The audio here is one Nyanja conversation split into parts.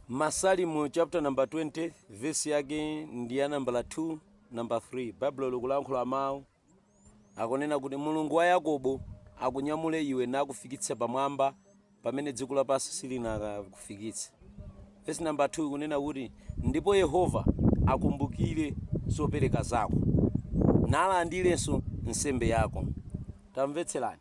Masalimo chapter number 20 verse yake ndi ya nambala 2 namba 3 baibulo likulankhula mawu akunena kuti mulungu wa yakobo akunyamule iwe nakufikitsa pamwamba pamene dziko lapansi silinakakufikitse verse namba 2 ikunena kuti ndipo yehova akumbukire zopereka zako nalandiranso nsembe yako tamvetserani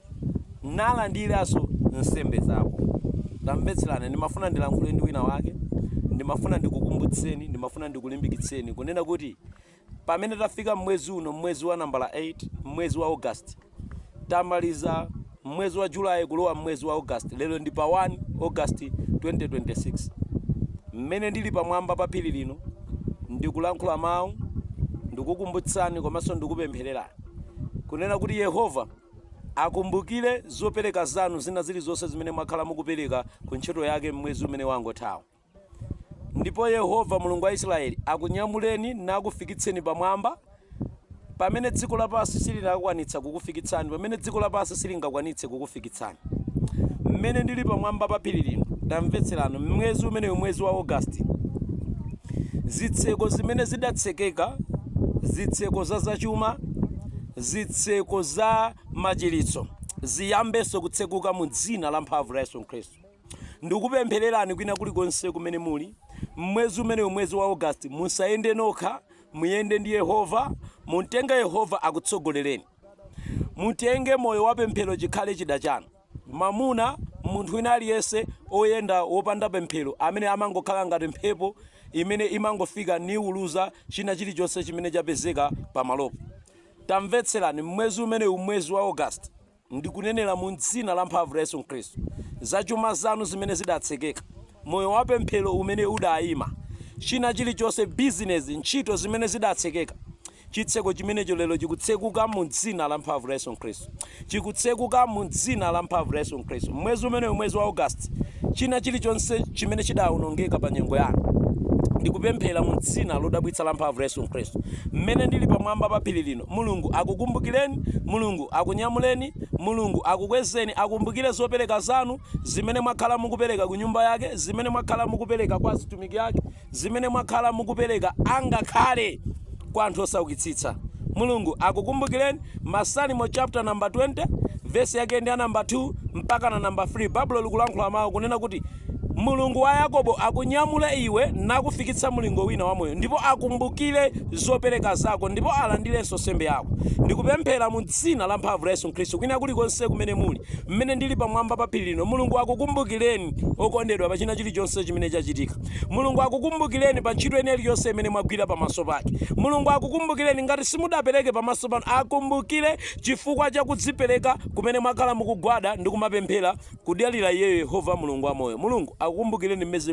nalandiranso nsembe zako. Tamvetserani, ndimafuna ndilankhule ndi wina wake, ndimafuna ndikukumbutseni, ndimafuna ndikulimbikitseni kunena kuti pamene tafika mmwezi uno, mmwezi wa nambala 8, mmwezi wa August, tamaliza mmwezi wa July kulowa mmwezi wa August, lero ndi pa 1 August 2026. Mmene ndili pamwamba pa phiri lino ndikulankhula mawu, ndikukumbutsani komanso ndikupemphererani kunena kuti Yehova Akumbukire zopereka zanu zina zilizonse zimene mwakhala mukupereka ku ntchito yake m'mwezi umene wangothawu. Ndipo Yehova Mulungu wa Isiraeli akunyamuleni nakufikitseni pamwamba pamene dziko lapansi silinakwanitsa kukufikitsani, pamene dziko lapansi silingakwanitse kukufikitsani. Mmene ndili pamwamba pa phiri lino, tamvetserani, m'mwezi umenewu, mwezi wa August, zitseko zimene zidatsekeka, zitseko za zachuma, zitseko za machiritso ziyambenso kutsekuka mu Dzina lamphamvu la Yesu Khristu. Ndikupemphererani kwina kulikonse kumene muli, mmwezi umenewu, mwezi wa August, musayende nokha, muyende ndi Yehova, mutenge Yehova akutsogolereni. Mutenge moyo wa pemphero chikhale chida chanu. Mamuna, munthu wina aliyense, oyenda wopanda pemphero amene amangokhala ngati mphepo imene imangofika niwuluza china chilichonse chimene chapezeka pamalopo. Tamvetserani, m'mwezi umenewu, mwezi wa August, ndikunenera mu dzina la mphamvu la Yesu Khristu, za chuma zanu zimene zidatsekeka, moyo wa pemphero umene udayima, china chilichonse, bizinezi, ntchito zimene zidatsekeka, Chitseko chimenecho lero chikutsekuka mu Dzina lamphamvu la Yesu Khristu. Chikutsekuka, mu Dzina lamphamvu la Yesu Khristu. Mmwezi umenewu, mwezi wa August, china chirichonse chimene chidawonongeka pa nyengo yanu, ndikupemphera mu Dzina lodabwitsa lamphamvu la Yesu Khristu, mmene ndiri pamwamba pa phiri lino, Mulungu akukumbukireni, Mulungu akunyamuleni, Mulungu akukwezeni, akumbukire zopereka zanu, zimene mwakhala mukupereka ku nyumba Yake, zimene mwakhala mukupereka kwa azitumiki Ake. zimene mwakhala mukupereka angakhale kwa anthu osaukitsitsa. Mulungu akukumbukireni, Masalimo chapter number 20 verse yake ndi ya number 2 mpaka na number 3 Baibulo likulankhula mawu kunena kuti Mulungu wa Yakobo akunyamule iwe nakufikitsa mulingo wina wa moyo ndipo akumbukire zopereka zako ndipo alandirenso nsembe yako. Ndikupemphera mu dzina la mphamvu la Yesu Khristu kwina kulikonse kumene muli, mmene ndili pamwamba pa phiri lino, Mulungu akukumbukireni okondedwa pa china chilichonse chimene chachitika. Mulungu akukumbukileni pa ntchito ina iliyonse imene mwagwira pamaso pake. Mulungu akukumbukileni ngati simudapereke pamaso pano akumbukile chifukwa cha kudzipereka kumene mwakhala mukugwada ndi kumapemphera kudalira iyeyo Yehova Mulungu wa moyo. Mulungu akukumbukileni m'mwezi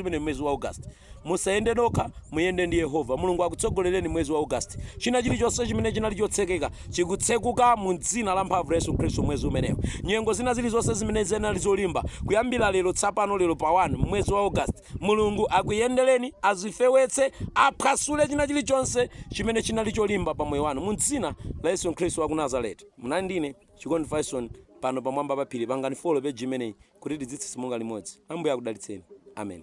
umenewu mwezi wa August. Musayende nokha muyende ndi Yehova. Mulungu akutsogolereni mwezi wa August. China chilichonse chimene chinali chotsekeka chikutsekuka mu Dzina lamphamvu la Yesu Khristu, mwezi umenewu. Nyengo zina zirizonse zimene zinali zolimba, kuyambira lero, tsapano, lero pa 1, mmwezi wa August, Mulungu akuyendereni, azifewetse, aphwasule china chirichonse chimene chinali cholimba pa moyo wanu, mu Dzina la Yesu Khristu waku Nazareti. Munali ndi ine, Chikondi Fyson, pano pamwamba pa phiri. Pangani follow page imeneyi, kuti tidzitsitsimuka limodzi. Ambuye akudalitseni. Amen.